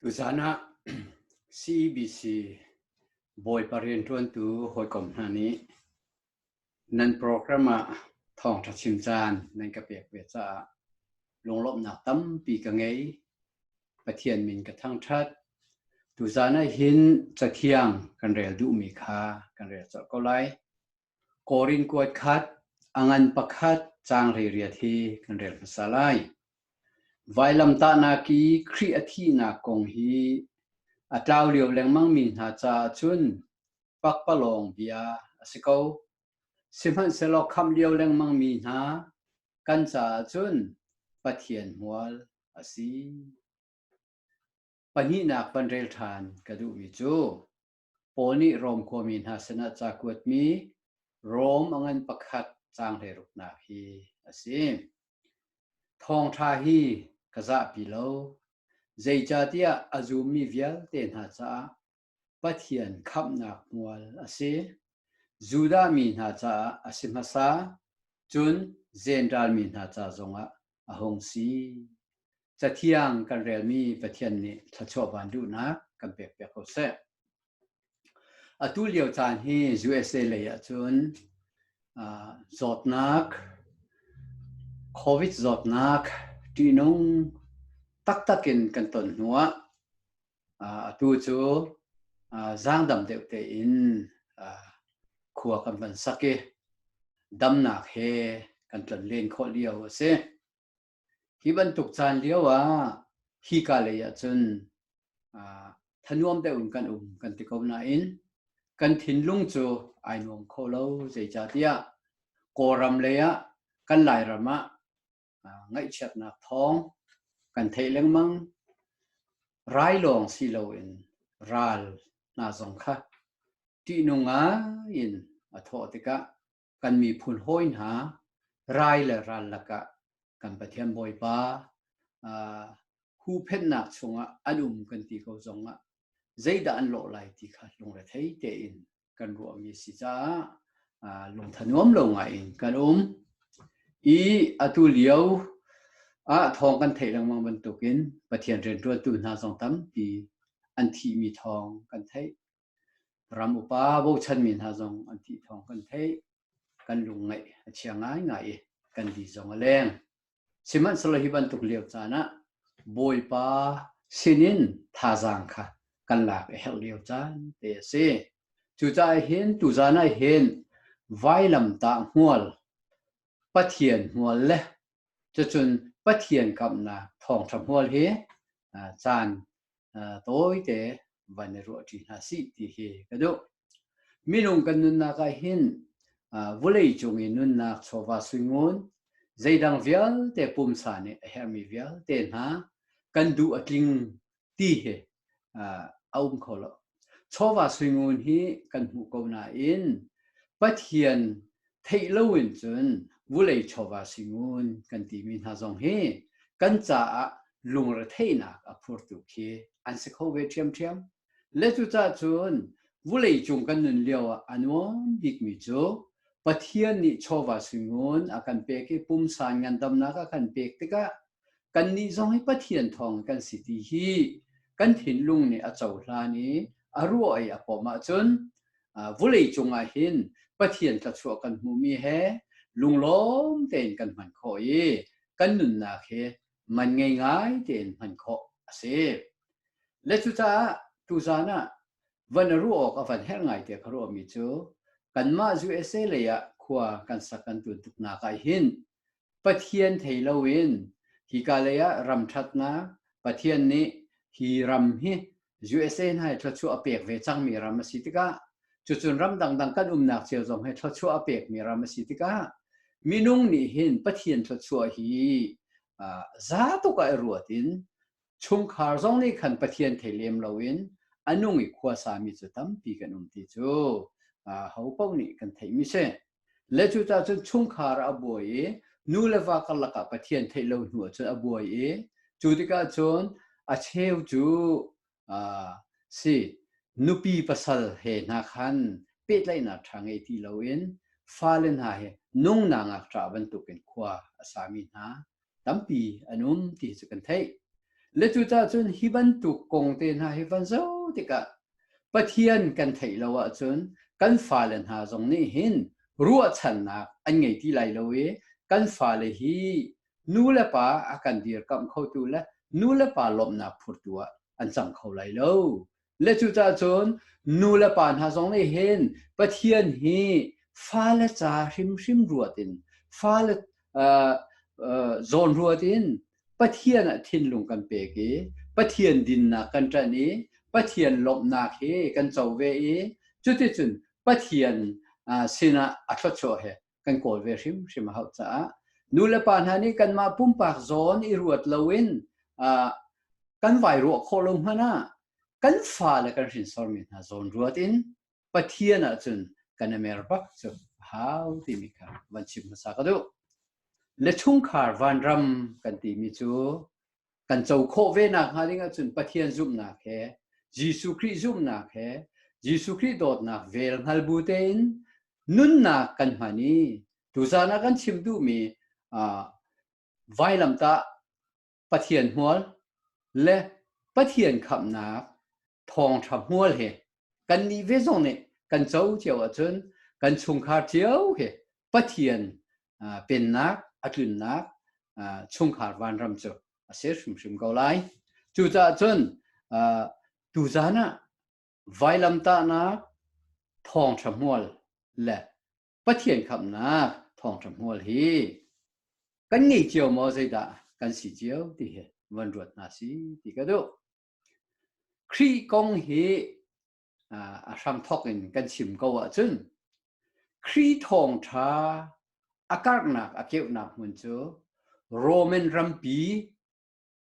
Tuzan ah CEBC Bawipa rianṭuantu hawikom hna nih nan program ah thawngṭha chim caan nan ka pek ve caah lunglawmhnak tampi ka ngei. Pathian min ka thangṭhat. Tuzan ah hin cathiang kan rel duhmi kha kan rel colh ko lai. Korin kuat khat, a ngan pakhat caanghleiriat he kan rel hmasa lai. Vailamtahnak i Khrih a thihnak kong hi a tlau lio lengmangmi hna caah cun pakpalawng bia a si ko. Sihmanhsehlaw khamh lio lengmangmi hna kan caah cun Pathian hmual a si. Pahnihnak van rel ṭhan ka duhmi cu, Paul nih Rom khuami hna sinah ca kuatmi Rom a ngan pakhat canghliruknak hi a si. Thawngṭha hi ka zahpi lo, zeicahtiah a zummi vialte hna caah Pathian khamhnak hmual a si. Judah mi hna caah a si hmasa, cun Zentaal mi hna ca zongah a hung si. Cathiang kan relmi Pathian nih thluachuah van duhnak kan pek piak ko seh. Atu lio caan hi USA lei ahcun uh, zawtnak, COVID zawtnak, ṭihnung taktak in kan ton hnuah atu cu zaangdam deuhte in khua kan van sak i damnak he kan tlan len khawh lio a si. Hi bantuk caan lio ah hika lei ah cun thanuam deuh in kan um kan ti ko nain kan thinlung cu ai nuam kho lo zeicah tiah Kawlram lei ah kan Lairam ah ngaihchiatnak thawng kan theih lengmang. Rai lawng si loin ral hna zong kha ṭihnung in a thawh tikah kan miphun hawi hna rai le ral lakah kan Pathian Bawipa huhphenhnak chungah an um kan ti ko zongah zeidah an lawh lai ti kha lungre thei tein kan ruahmi si caah lungthanuam lo ngai in kan um i atu lio ah thawng kan theih lengmang bantukin Pathian rianṭuantu hna zong tampi an thihmi thawng kan theih ram upa bochanmi hna zong an thih thawng kan theih kan lung ngaih a chia ngai ngai i kan di zong a leng Sihmanhsehlaw hi bantuk lio caan ah Bawipa sinin thazaang kha kan lak a herh lio caan te a si. Cucaah hin tuzaan ah hin vailamtah hmual, Pathian hmual le cucun Pathian kamhnak thawngṭha hmual hi caan tawite van i ruah ṭi hna sih ti hi ka duh. Minung kan nunnak ah hin vulei cung i nunnak chawva suingun zeidang vialte pumsa nih a herhmi vialte hna kan duh a tling ti hi a um kho lo. chawva suingun hi kan hmuh ko nain Pathian theih lo in cun vulei chawva singun kan timi hna zong hi kan caah lungretheihnak a phurtu khi an si kho ve ṭhiamṭhiam. Le cucah cun vulei cung kan nun lio ah a nuam bikmi cu Pathian nih chawva singun a kan pek i pumsan ngandamnak a kan pek tikah Kannih zong hi Pathian thawng kan si ti hi kan thinlung nih a cohlan i a ruah i a pom ahcun vulei cungah hin Pathian thluachuah kan hmumi he lunglawm tein kan hman khawh i kan nunnak hi man ngei ngai tein hman khawh a si. Le cucaah tuzan ah van a ruah awk a van herh ngai tiah ka ruahmi cu kanmah USA lei ah khua kan sak kan tun tuknak ah hin Pathian thei loin hika leiah ram ṭhatnak Pathian nih hi ram hi USA hna he thluachuah a pek ve cangmi ram a si tikah cucun ram dangdang kan umnak cio zong he thluachuah a pekmi ram a si tikah minung nih hin Pathian thluachuah hi za tuk ah i ruat in chungkhar zong nih khan Pathian thei lem loin a nung i khuasa mi cu tampi kan um ti cu ho paoh nih kan theihmi si le cu ta cun chungkhar a buai i nu le va karlak ah Pathian theih lo hnu ah cun a buai i cu tikah cun a cheu cu si nupi pasal he hna khan pehtlaihnak ṭha ngei ti loin fale hna he nungnak ngakṭah bantukin khua a sami hna tampi an um ti cu kan theih. Le cu cun hi bantuk kong te hna hi van zo tikah Pathian kan theih lo ahcun kan fale hna zong nih hin ruahchannak an ngei ti lai lo i kan fale hi nu le pa a kan dirkamh khotu le nu le pa lawmhnak phurtu ah an cang kho lai lo. le cucah cun nu le pa hna zong nih hin Pathian hi fale ca hrimhrim ruat in fale uh, uh, zawn ruat in Pathian ah thinlung kan pek i Pathian dinnak kan ṭan i Pathian lawmhnak hi kan co ve i cuticun Pathian uh, sinah a thluachuah he kan kawl ve hrimhrim a hau caah nu le pa hna nih kanmah pumpak zawn i ruat loin kan vai ruah khawh lo hmanh ah kan fale kan hrinsormi hna zawn ruat in Pathian ahcun kan i mer bak cu hau timi kha van chim hmasa ka duh le chungkhar vanram kan timi cu kan co khawh ve nakhnga ding ahcun Pathian zumhnak he Jesuh Khrih zumhnak he Jesuh Khrih dawtnak vel hngal bu tein nunnak kan hman i tuzan ah kan chim duhmi vailamtah Pathian hmual le Pathian khamhnak thawngtha hmual hi kan nih ve zong nih kan co cio ahcun kan chungkhar cio hi pathian pennak atlunnak chungkhar vanram cu a ser hrimhrim ko lai cucaah cun tuzan ah vailamtahnak thawngtha hmual le pathian khamnak thawngtha hmual hi kan ngei cio maw zeidah kan si cio ti hi van ruat hna si ti ka duh Khrih kong hi a hramthawk in kan chim ko ahcun Khrih thawngṭha a karhnak a keuhnak hmun cu Roman rampi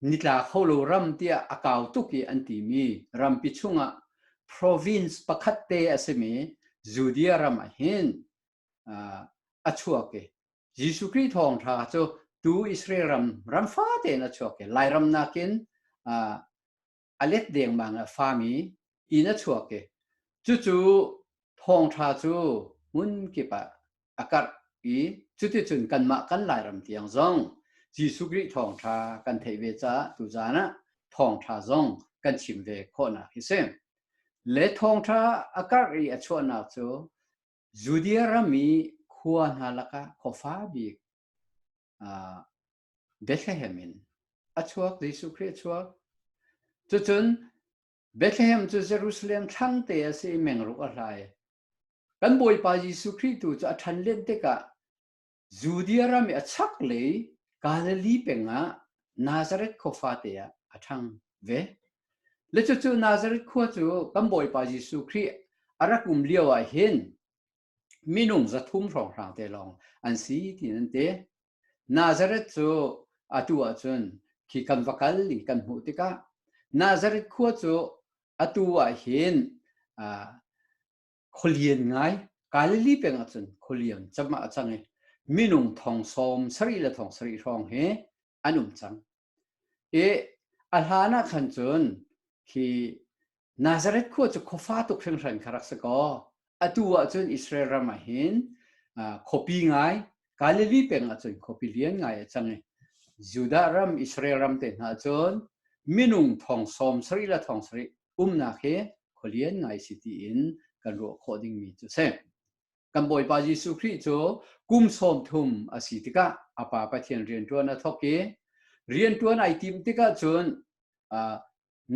nitla kho lo ram tiah a kau tuk i an timi rampi chungah province pakhat te a simi Judea ram ah hin a chuak i Jesuh Khrih thawngṭha cu tu Israel ram ram fate in a chuak i Lairam nakin a let dengmang a fami in a chuak i cucu thawngṭha cu hmun kip ah a karh i cuticun kanmah kan Lairam tiang zong Jesuh Khrih thawngṭha kan theih ve caah tuzan ah thawngṭha zong kan chim ve khawhnak hi si. Le thawngṭha a karh i a chuahnak cu Judea ram i khua hna lakah khuafa bik Bethlehem in a chuak Jesuh Khrih a chuak. Cucun Bethlehem cu Jerusalem thlangte a si i mengruk a hlai. Kan Bawipa Jesuh Khrih tu cu a ṭhan len tikah Judea ram i a chaklei Galilee pengah Nazareth khua fate ah a ṭhang ve. Le cucu Nazareth khua cu kan Bawipa Jesuh Khrih a rak um lio ah hin minung zathum hrawnghrang te lawng an si ti nan ti. Nazareth cu atu ahcun khi kan va kal ning kan hmuh tikah Nazareth khua cu atu ah hin uh, khualian ngai Galilee peng ah cun khualian chama a cang i minung thong sawm sarih le thong sarih hrawng hi an um cang i a hlan ah khan cun khi Nazareth khua cu khofa tuk hringhran kha rak si kaw atu ah cun Israel ram ah hin khuapi ngai Galilee peng ah cun khuapi lian ngai a cang i Judah ram Israel ram te hna cun minung thong sawm sarih le thong sarih umnak hi khualian ngai si tiin kan ruah khawh dingmi cu si. Kan Bawipa Jesuh Khrih cu kum sawm thum a si tikah a Pa Pathian rianṭuan a thawk i rianṭuan ai tim tikah cun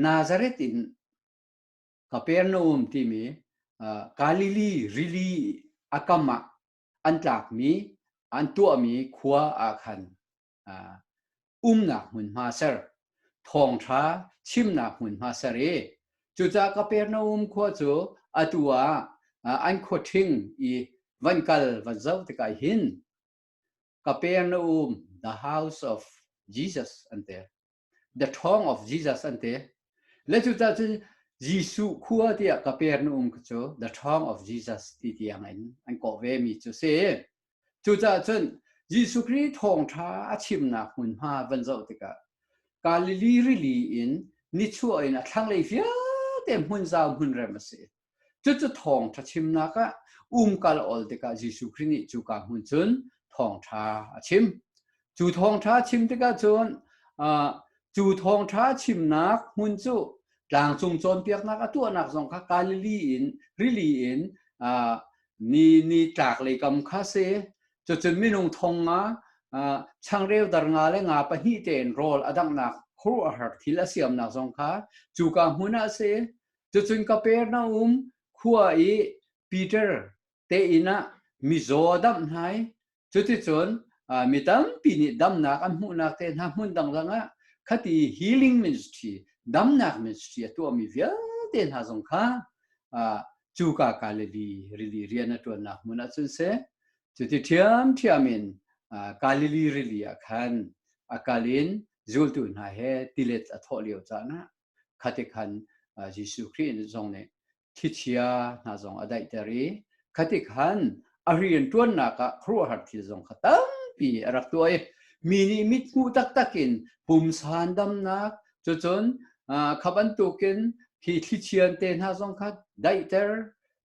Nazareth in Kapernaum timi Galili rili a kam ah an tlakmi an tuahmi khua ah khan umnak hmunhma ser thawngṭha chimnak hmunhma ser i cucah Kapernaum khua cu atu ah an khuaṭhing i van kal van zoh tikah hin Capernaum the house of Jesus an ti. The Throng of Jesus an ti. Le cu ta cu Jesuh khua tiah ka per nu um cu The Throng of Jesus ti tiang in an kawh ve mi cu si. Cu ta cun Jesuh Khrist thawngtha a chimnak hmunhma van zoh tikah Galilee rili in nichuah in a thlanglei vialte hmun zau hmun rem a si. Cucu thawngṭha chimnak ah umkal ol tikah Jesuh Khrih nih cuka hmun cun thawngṭha a chim. Cu thawngṭha chim tikah cun cu thawngṭha chimnak hmun cu tlangcung cawnpiaknak a tuahnak zong kha Galilee in rili in ni ni tlaklei kam kha si. Cucun minung thong nga changreu dar nga le nga pahnih tein rawl a danghnak khuaruahhar thil a siamnak zong kha cuka hmun ah si. Cucun Kapernaum khua i Peter te inn ah mizaw a damh hna i cuticun mi tampi nih damnak an hmuhnak te hna hmun dang dang ah khati healing ministry damnak ministry a tuahmi vialte hna zong kha cuka Galilee rili rian a ṭuannak hmun ah cun si cuti ṭhiamṭhiam in Galilee rili ah khan a kal in zultu hna he tilet a thawh lio caan ah khatikhan Jesuh Khrih zong nih thichia hna zong a daihter i khatikhan a rian ṭuannak ah khuaruahhar thil zong kha tampi a rak tuah i mi nih mit hmuh taktak in pumsan damnak cucun kha bantukin hi thlichian te hna zong kha daihter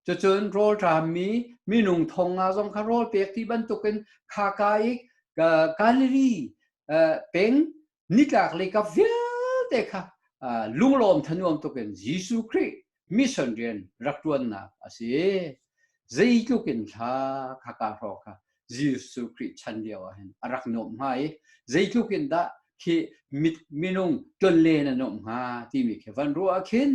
cucun rawlṭammi minung thong nga zong kha rawl pek ti bantukin khaka i Galili peng nitlak le ka vialte kha lunglawm thanuam tukin Jesuh Khrih mission rian rak tuannak a si zeitluk in thla kha ka hro kha Jesuh Khrih chan lio ah hin a rak nuam hnga i zeitluk in dah khi minung tlonle na nuam hnga timi khi van ruah khin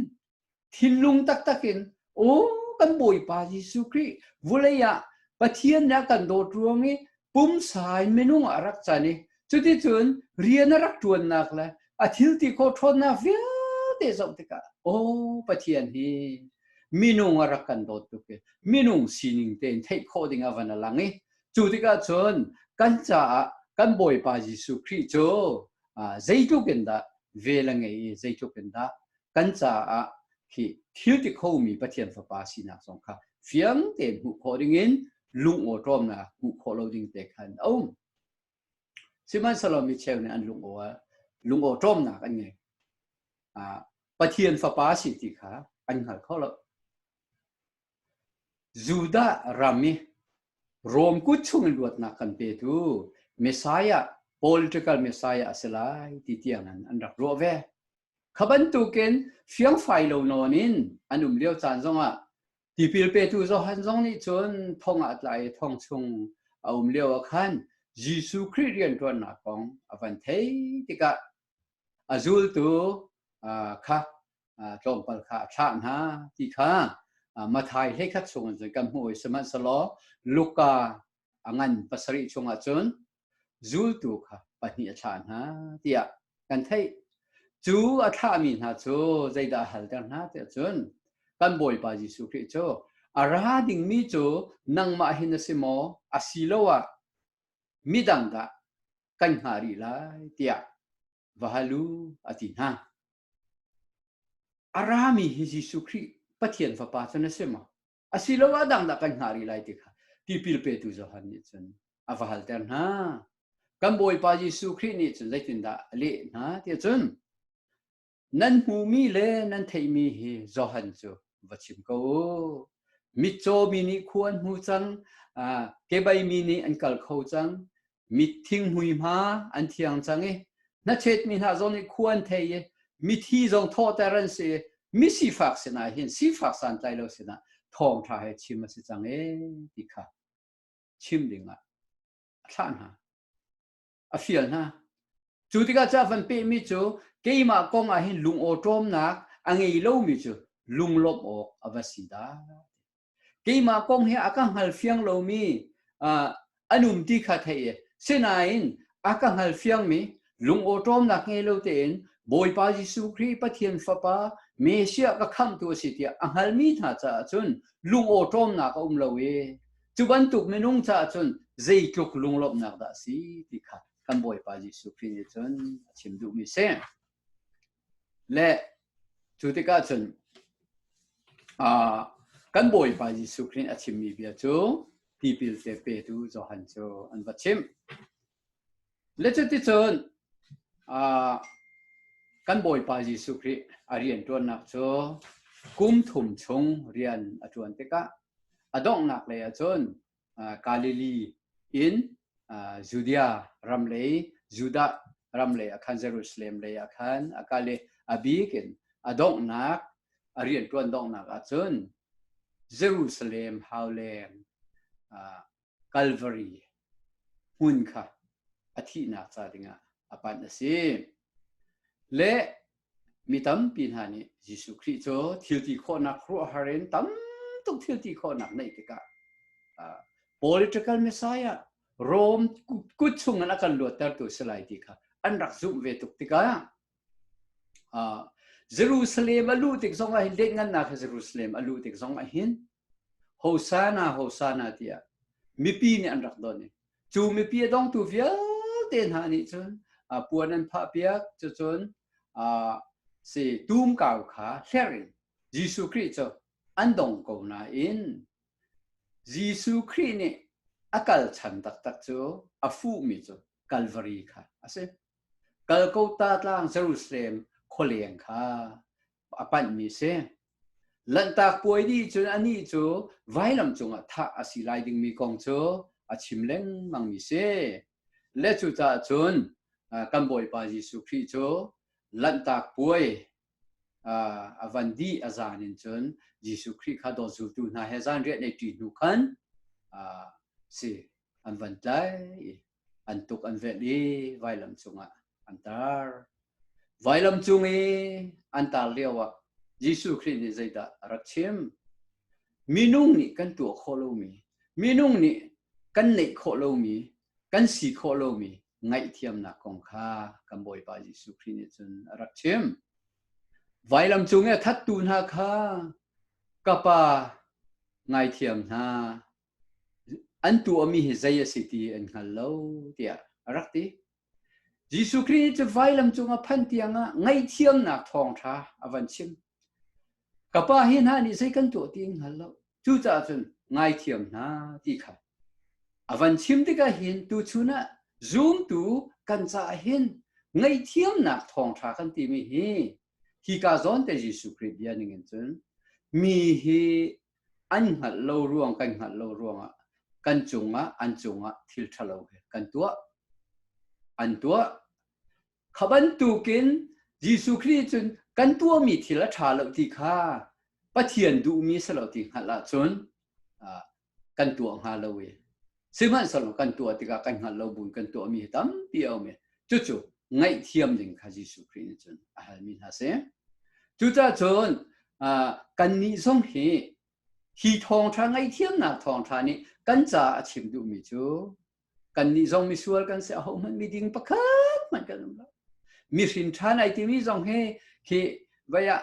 Thinlung taktak in, aw kan Bawipa Jesuh Khrih vulei ah Pathian nih a kan dawt ruang i pumsai minung a rak can i cuticun rian a rak ṭuannak le a thilti kho ṭhawnnak vialte zoh tikah, aw Pathian hi minung a rak kan dawt tuk i minung sining tein theih khawh ding a van a lang i cu tikah cun kan caah kan Bawipa Jesuh Khrih cu zeitluk in dah vel a ngei i zeitluk in dah kan caah hi thil ti khomi Pathian fapa sinak zong kha fiang te hmuh khawh dingin lungaw ṭawmnak hmuh khawh lo ding te khan a um. Sihmanhsehlaw mi cheu nih an lungaw lungaw ṭawmnak an ngei. Pathian fapa si ti kha an hngal kho lo. Judah ram i Rom kut chung in luatnak kan petu Messiah, political Messiah a si lai ti tiangin an rak ruah ve. Kha bantukin fiangfai lo nawn in an um lio caan zongah tipil petu Johan zong nih cun thong ah tlai i thong chung a um lio ah khan Jesuh Khrih rianṭuannak kong a van thei tikah a zultu kha tlawmpal kha a thlah hna ti kha Mathai hlei khat chung cun kan hmuh sihmanhselaw Luka a ngan pasarih chung ahcun zultu kha pahnih a thlah hna tiah kan theih cu a thlahmi hna cu zeidah a halter hna tiah cun kan bawipa Jesuh Khrih cu a ra dingmi cu nangmah hin a si maw a si lo ah midang dah kan hngah rih lai tiah va hal u, a ti hna. A rami hi Jesuh Khrih Pathian Fapa cu na si maw? Asiloah dangdah kan hngah rih lai ti kha tipil petu Johan nih cun a va halter hna. Kan Bawipa Jesuh Khrih nih cun zeitindah a leh hna tiah cun nan hmumi le nan theihmi hi Johan cu va chim ko u. Mitcaw mi nih khua an hmu cang, kebai mi nih an kal kho cang, mitthing hmuihma an thiang cang i nachet mi hna zong nih khu an thei i mithi zong thawhter an si i misifak sinah hin sifak santlai lo sinah thawng ṭha he chim a si cang e ti kha chim dingah a thlah hna a fial hna cu tikah ca van pehmi cu keimah kong ah hin lung awṭawmnak a ngei lomi cu lunglawmh awk a va si dah keimah kong hi a ka hngal fiang lomi an um ti kha thei sinain a ka hngal fiangmi lungawṭawmnak ngei lo tein Bawipa Jesuh Khrih Pathian Fapa Messiah ka khamtu a si tiah a hngalmi hna caah cun lungawṭawmnak a um lo i cu bantuk minung caah cun zeitluk lunglawmhnak dah a si ti kha kan Bawipa Jesuh Khrih nih cun a chim duhmi a si. Le cu tikah cun kan Bawipa Jesuh Khrih a chimmi bia cu tipil te petu Johan cu an va chimh. Le cuticun kan Bawipa Jesuh Khrih a rianṭuannak cu kum thum chung rian a ṭuan tikah a donghnak lei ah cun Galilee in Judea ram lei Judah ram lei akhan Jerusalem lei akhan akale abik in adonghnak arian tuan donghnak ahcun Jerusalem hauleng Calvary hmun kha a thihnak ca dingah a panh a si. Le Mi tampi hna nih Jesuh Khrih cu thilti khawhnak ruahhar in tam tuk thilti khawhnak neih tikah uh, political messiah Rome kut chung in a kan luattertu si lai ti kha an rak zumh ve tuk tikah uh, Jerusalem a luh tik zong ah hin let ngannak Jerusalem a luh tik zong ah hin Hosana, Hosana tiah mipi nih an rak don i cu mipi a dongtu vialte hna nih cun puan an phah piak cucun si tumkau kha hlerh in Jesuh Khrih cu an dong ko nain Jesuh Khrih nih a kal chan taktak cu a fuhmi cu Kalvari kha a si. Kalkota tlang Jerusalem khualeng kha a panhmi si. Lanhtak puai dih cun anih cu vailam cungah thah a si lai dingmi kong cu a chim lengmangmi si. Le cucaah cun kan Bawipa Jesuh Khrih cu lanhtak puai a van dih a zan in cun Jesuh Khrih kha dawt zultu hna he zanriah nei ṭi hnu khan si an van tlai. an tuk an velh i vailam cungah an tar. Vailam cung i an tar lio ah Jesuh Khrih nih zeidah a rak chim? Minung nih kan tuah khawh lomi, minung nih kan neih khawh lomi, kan si khawh lomi ngaihthiamnak kong kha kan Bawipa Jesuh Khrih nih cun a rak chim. Vailam cung i a thattu hna kha ka Pa ngaithiam hna an tuahmi hi zei a si ti an hngal lo tiah a rak ti. Jesuh Khrih cu vailam cungah phan tiangah ngaihthiamnak thawngṭha a van chim. Ka pa hi hna nih zei kan tuah ti an hngal lo. Cucaah cun ngaithiam hna ti kha a van chim tikah hin tuchun ah zumtu kan caah hin ngaihthiamnak thawngṭha kan timi hi hika zawn te Jesuh Khrih bia ningin cun mi hi an hngalh lo ruang kan hngalh lo ruangah kan cungah an cungah thil ṭhalo he kan tuah an tuah kha bantukin Jesuh Khrih cun kan tuahmi thil a ṭha lo ti kha Pathian duhmi si lo ti hngalh ahcun kan tuah hnga lo i Sihmanhsehlaw kan tuah tikah kan hngalh lo buin kan tuahmi hi tampi a um i cucu ngaihthiam ding kha Jesuh Khrih nih cun a halmi hna si. Cucahcun kannih zong hi hi thawngṭha ngaihthiamnak thawngṭha nih kan caah a chim duhmi cu kannih zong misual kan si ahohmanh miding pakhat hmanh kan um lo. Mihrin ṭhan ai timi zong hi khi vaya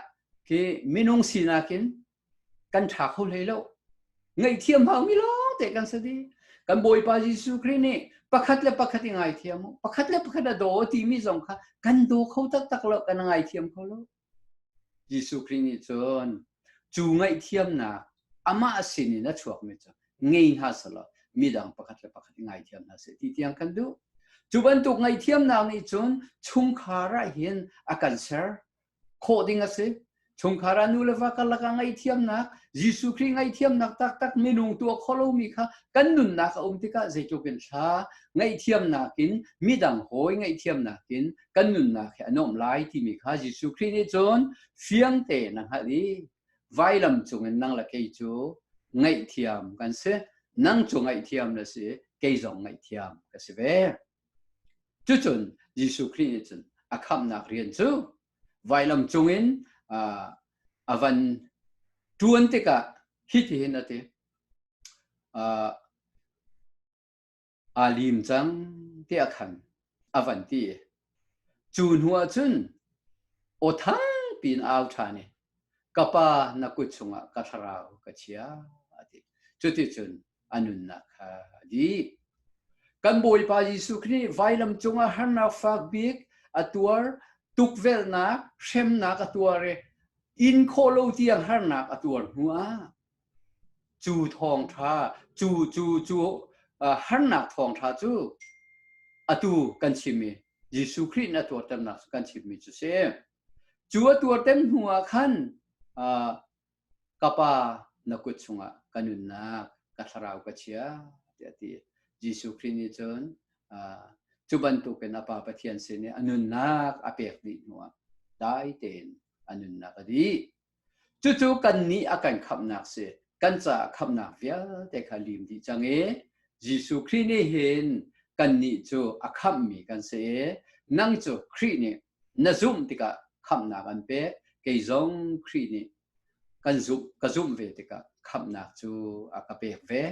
khi minung sinak in kan ṭha kho hlei lo. Ngaihthiam haumi lawngte kan si di. Kan Bawipa Jesuh Khrih nih pakhat le pakhat i ngaithiam u. Pakhat le pakhat a daw timi zong kha kan daw kho taktak lo, kan ngaithiam kho lo. Jesuh Khrih nih cun cu ngaihthiamnak amah sin in a chuakmi cu ngei hna selaw midang pakhat le pakhat i ngaithiam hna seh ti tiang kan duh. Cu bantuk ngaihthiamnak nih cun chungkhar ah hin a kan ser. khawh ding a si chungkhar ah nu le va karlak ah ngaihthiamnak Jesuh Khrih ngaihthiamnak taktak minung tuah kholomi kha kan nunnak a um tikah zeitluk in thla ngaihthiamnak in midang hawi ngaihthiamnak in kan nunnak he an um lai timi kha Jesuh Khrih nih cun fiang te na hngalh i vailam cungin nang le kei cu ngaihthiam kan si nang cu ngaihthiam na si kei zong ngaihthiam ka si ve Cucun Jesuh Khrih nih cun a khamhnak rian cu vailam cungin a van ṭuan tikah hitihin a ti. Aa lim cang tiah khan a van ti. Cu hnuah cun aw tha piin a au ṭhan i, ka Pa na kut chungah ka thlarau ka chia, a ti. Cuticun a nunnak kha a dih. Kan Bawipa Jesuh Khrih vailam cungah harnak fak bik a tuar, tukvelhnak, hremnak a tuar i in khawh lo tiang harnak a tuar hnu ah cu thawngtha cu cu cu uh, harnak thawngtha cu atu kan chim i Jesuh Khrih na tuarternak kan chimmi cu si. Cu a tuarter hnu ah khan uh, ka pa na kut chungah ka nunnak ka thlarau ka chia tiah ti Jesuh Khrih nih cun cu bantukin a Pa Pathian sin i a nunnak a pek dih hnuah dai tein a nunnak a dih cucu kannih a kan khamhnak si kan caah khamhnak vialte kha lim dih cang i Jesuh Khrih nih hin kannih cu a khamhmi kan si i nang cu Khrih nih na zumh tikah khamhnak an pek kei zong Khrih nih kan zumh ka zumh ve tikah khamhnak cu a ka pek ve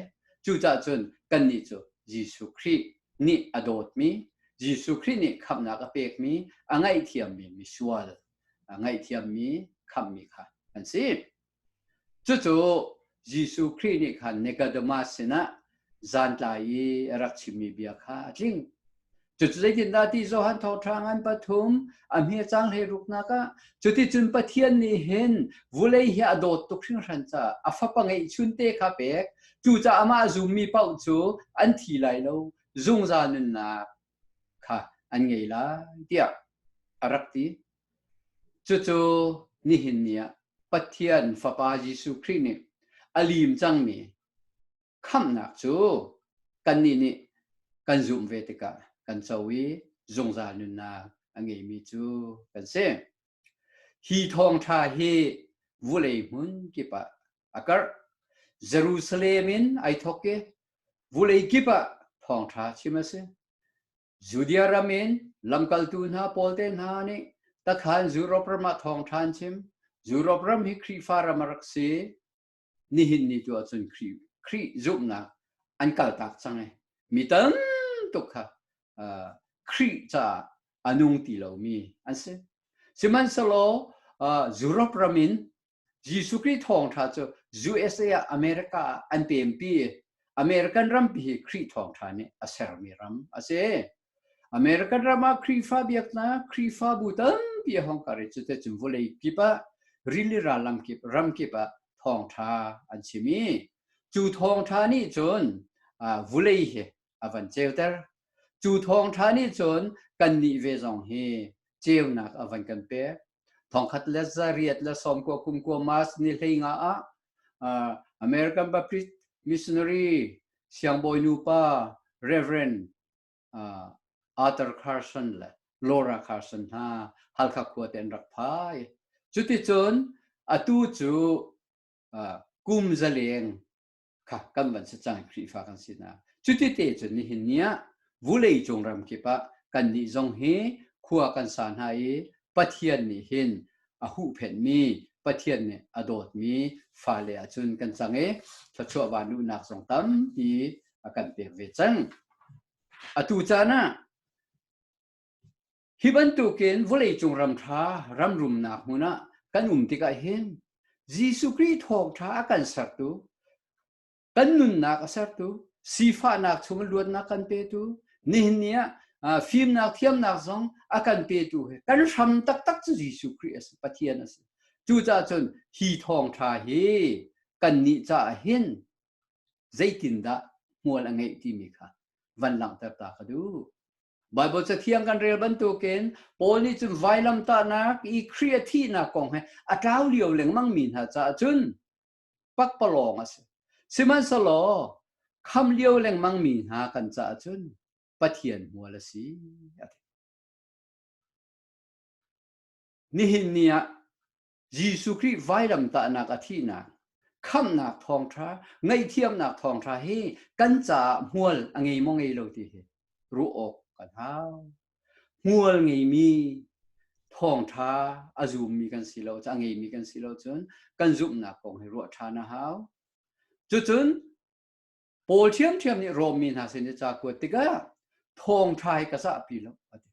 cucah cun kannih cu Jesuh Khrih nih a dawtmi Jesuh Khrih nih khamhnak a pekmi a ngaihthiammi misual a ngaihthiammi khamhmi kha an si Cucu Jesuh Khrih nih khan Nicodemus sinah zantlai i a rak chimmi bia kha a tling. Cucu zeitindah ti Johan Thawṭhrang an pathum a hmiacang hlei ruknak ah cuticun Pathian nih hin vulei hi a dawt tuk hringhran caah a fapa ngeihchun te kha pek cucaah amah zummi paoh cu an thi lai lo zungzal nunnak kha an ngei lai tiah a rak ti. Cucu nihin ni ah Pathian Fapa Jesuh Khrih nih a lim cangmi khamhnak cu kannih nih kan zumh ve tikah kan co i zungzal nunnak a ngeimi cu kan si. Hi thawngṭha hi vulei hmun kip ah a karh. Jerusalem in ai thawk i vulei kip ah thawngṭha chim a si. Judea ram in lamkaltu hna pawl te hna nih takhan Europe ram ah thawng ṭhan chim Europe ram hi Khrihfa ram a rak si nihin ni tu ahcun Khrih Khrih zumhnak an kaltak cang i mi tam tuk kha uh, Khrih caah a nung ti lomi an si sihmanhsehlaw uh, Europe ram in Jesuh Khrih thawngtha cu USA ah America ah an pempi. American rampi hi Khrih thawngtha nih a sermi ram a si. American ram ah Khrihfa biaknak, Khrihfabu tampi a hong kar i cuti cun vawlei kip ah rili ram kip, ram kip ah thawngtha an chim i cu thawngtha nih cun vawlei hi a van ceuter. Cu thawngtha nih cun kannih ve zong hi ceunak a van kan pek. thongkhat le zariat le sawmkua kumkua mas ni hlei nga ah uh, American Baptist missionary siangbawi nupa Reverend uh, Arthur Carson le Laura Carson hna halkha khua te an rak phai cuticun atu cu uh, kum zaleng kha kan van si cang Khrihfa kan si na cuti te cun nihin ni ah vulei cung ram kip ah kan nih zong hi khua kan sa hna i Pathian nih hin a huhphenh mi Pathian nih a dawt mi fale ahcun kan cang i thluachuah van luhnak zong tampi a kan pek ve cang atu caan ah Hi bantukin vawleicung ram ṭha ram rumnak hmun ah kan um tikah hin Jesuh Khrih thawngṭha a kan sertu, kan nunnak a sertu, sifahnak chungin luatnak kan petu, nihin ni ah fimnak thiamnak zong a kan petu hi kan hram taktak cu Jesuh Khrih a si, Pathian a si. Cucaah cun hi thawngṭha hi kannih caah hin zeitindah hmual a ngeih timi kha van langhter ta ka duh. Bible cathiang kan rel bantukin Paul nih cun vailamtahnak i Khrih a thihnak kong he a tlau lio lengmang mi hna caah cun pakpalawng a si. Sihmanhselaw kham lio lengmang mi hna kan caah cun Pathian hmual a si. Nihin ni ah Jesuh Khrih vailamtahnak a thihnak khamhnak thawngtha ngaihthiamnak thawngtha hi kan caah hmual a ngei maw ngei lo ti hi ruah awk kan hau hmual ngeimi thawngtha a zummi kan si lo a ngeimi kan si lo cun kan zumhnak kong hi ruah ṭhan a hau cucun Paul ṭhiamṭhiam nih Rom mi hna sin i ca kuat tikah thawngṭha hi ka sahpi lo a ti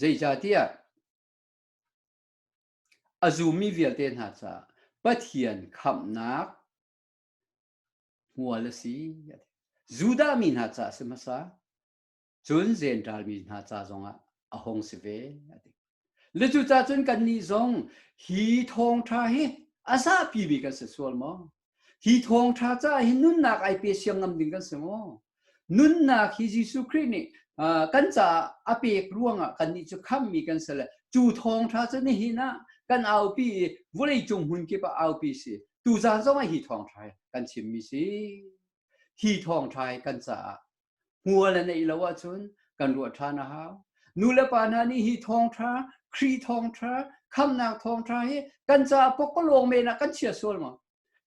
zeicahtiah A zumi vialte hna caah Pathian khamhnak hmual a si. Judah mi hna caah si hmasa, cun Zentaal mi hna ca zongah a hung si ve. Le cucacun kannih zong hi thawngṭha hi a zapi bik an si sual maw? Hi thawngṭha ca hi nunnak ai pe siang ngam ding kan si maw? Nunnak hi Jesuh Khrih nih kan caah a pek ruangah kannih cu khammi kan si le cu thawngṭha cu nihin ah kan aupi i vawlei cung hmun kip ah aupi si tu zan zong ah hi thawngṭha hi kan chimmi si hi thawngṭha hi kan caah hmual an ei lo ahcun kan ruah ṭhan a hau. Nu le pa hna nih hi thawngṭha, Khrih thawngṭha, khamnak thawngṭha hi kan caah pokolawng men ah kan chia sual maw?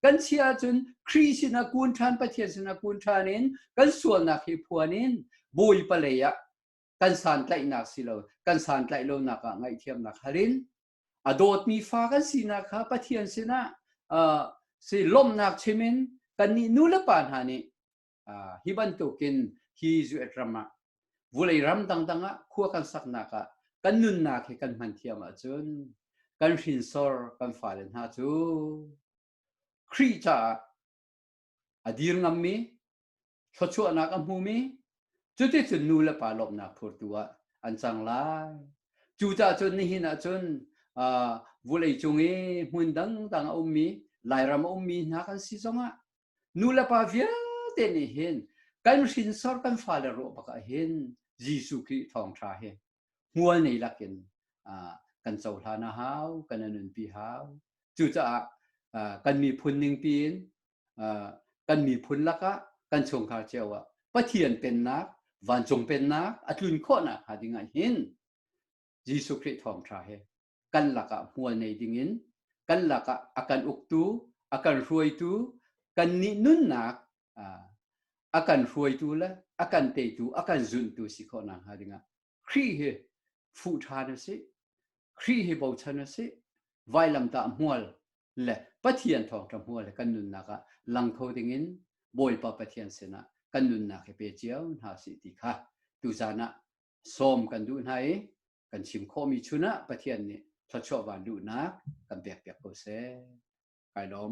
Kan chia ahcun Khrih sinah kun ṭhan, Pathian sinah kun ṭhan in kan sualnak hi phuan in bawipa lei ah kan santlaihnak si lo, kan santlaih lonak ah ngaihthiamnak hal in a dawtmi fa kan sinak kha Pathian sinah uh, si lawmhnak chim in kannih nu le pa hna nih hi bantukin hi US ram ah vulei ram dangdang ah khua kan saknak ah kan nunnak hi kan hman thiam ahcun kan hrinsor kan fale hna cu Khrih caah a dir ngammi thluachuahnak a hmumi cuticun nu le pa lawmnak phurtu ah an cang lai cu cun nihin ahcun vulei cung i hmun dangdang a ummi lairam a ummi hna kan si zongah Nu le pa vialte nih hin kan hrinsor kan fale ruah bak ah hin Jesuh Khrih thawngṭha hi hmual nei lakin kan cohlan a hau, kan nunpi hau. Cucaah kan miphun ningpi in kan miphun lakah kan chungkhar cio ah Pathian pennak, vancung pennak a tlun khawhnak hnga ding ah hin Jesuh Khrih thawngṭha he kan lakah hmual nei dingin kan lakah a kan uktu, a kan hruaitu, kannih nunnak a kan hruaitu le a kan teitu, a kan zuntu si khawh nak hnga dingah Khrih hi fuh ṭhan a si. Khrih hi bochan a si. Vailamtah hmual le Pathian thawngṭha hmual le kan nunnak ah lang kho dingin Bawipa Pathian sinah kan nunnak hi pe cio hna si ti kha tuzan ah sawm kan duh hna i kan chim khawhmi chun ah Pathian nih thluachuah van luhnak kan pekpiak ko seh. Kai lawm.